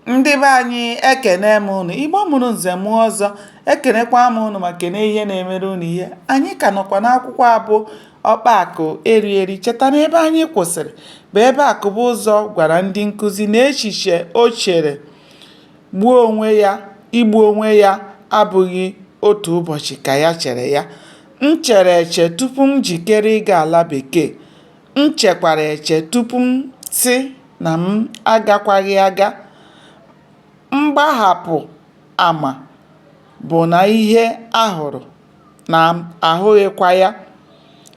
ndị be anyị ekene m ụnụ igbo mụrụ nze mụọ ọzọ ekenekwa m ụnụ ma kene ihe na-emere ụnụ ihe anyị ka nọkwa n'akwụkwọ a bụ ọkpa akụ eri eri cheta na ebe anyị kwụsịrị bụ ebe akụbụzọ gwara ndị nkụzi na echiche o chere gbuo onwe ya igbu onwe ya abụghị otu ụbọchị ka ya chere ya m chere eche tupu m jikere ịga ala bekee M chekwara eche tupu m sị na m agakwaghị aga. Mgbahapụ ama bụ na ihe a hụrụ na ahụghịkwa ya.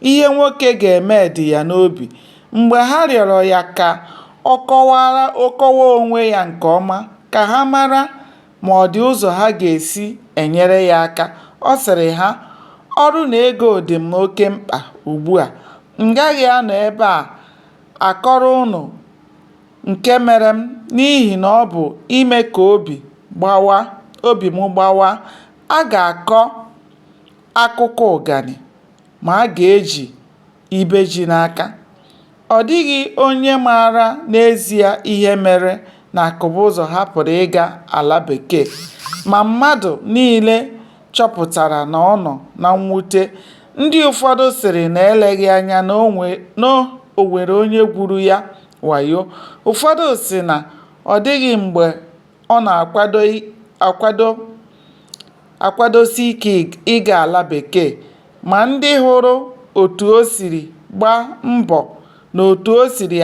Ihe nwoke ga-eme dị ya n'obi. Mgbe ha rịọrọ ya ka ọ kọwaa onwe ya nke ọma ka ha mara, ma ọ dị ụzọ ha ga-esi enyere ya aka. Ọ sịrị ha, Ọrụ na ego dị m oke mkpa ugbu a. M gaghị anọ ebe a akọrọ unu nke mere m n'ihi na ọ bụ ime ka obi gbawa obi m gbawa. A ga-akọ akụkọ ụganị, ma a ga-eji Ibe ji n'aka, Ọ dịghị onye maara n'ezie ihe mere na Akụbụzọ hapụrụ ịga ala Bekee, ma mmadụ niile chọpụtara na ọ nọ na mwute. Ndị ụfọdụ sịrị na eleghị anya na o nwere onye gwuru ya wayo. Ụfọdụ sị na ọ dịghị mgbe Ọ na-akwadosi ike ịga ala Bekee ma ndị hụrụ otu o siri gbaa mbọ na otu o siri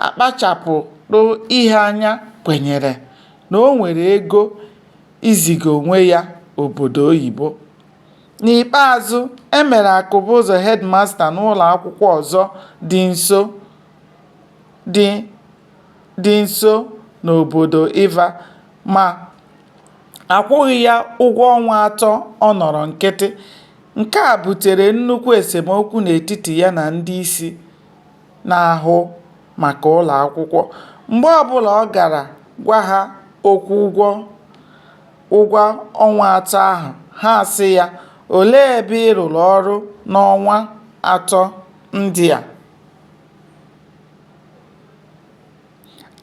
akpachapụrụ ihe anya kwenyere na o nwere ego iziga onwe ya obodo oyibo. N'ikpeazụ, e mere Akụbụzọ hedịmasta n'ụlọakwụkwọ ọzọ dị nso dị nso n'obodo Iva, ma a kwụghị ya ụgwọ ọnwa atọ ọ nọrọ nkịtị. Nke a butere nnukwu esemokwu n'etiti ya na ndị isi na-ahụ maka ụlọ akwụkwọ. Mgbe ọ bụla ọ gara gwa ha okwu ụgwọ ọnwa atọ ahụ, ha asị ya, “Olee ebe ị rụrụ ọrụ n'ọnwa atọ ndị a?”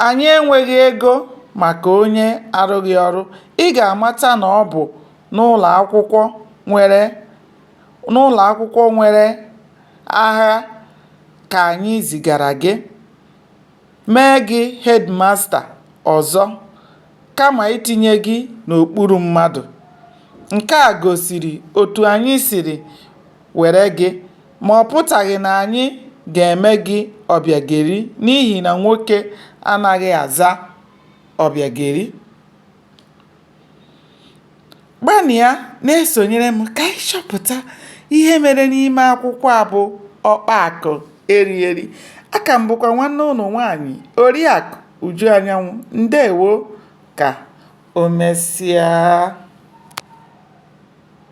Anyị enweghị ego maka onye arụghị ọrụ, ị ga-amata na ọ bụ n'ụlọakwụkwọ nwere agha ka anyị zigara gị, mee gị hedịmasta ọzọ kama itinye gị n'okpuru mmadụ, nke a gosiri otu anyị siri were gị. Ma ọ pụtaghị na anyị ga-eme gị ọbịageri n'ihi na nwoke anaghị aza ọbịageri. Gbanịa na-esonyere m ka anyị chọpụta ihe mere n'ime akwụkwọ a bụ Ọkpa Akụ Eri Eri. Aka m bụkwa nwanne ụnụ nwaanyị Oriakụ Uju Anyanwụ. Ndewo ka o mesịa.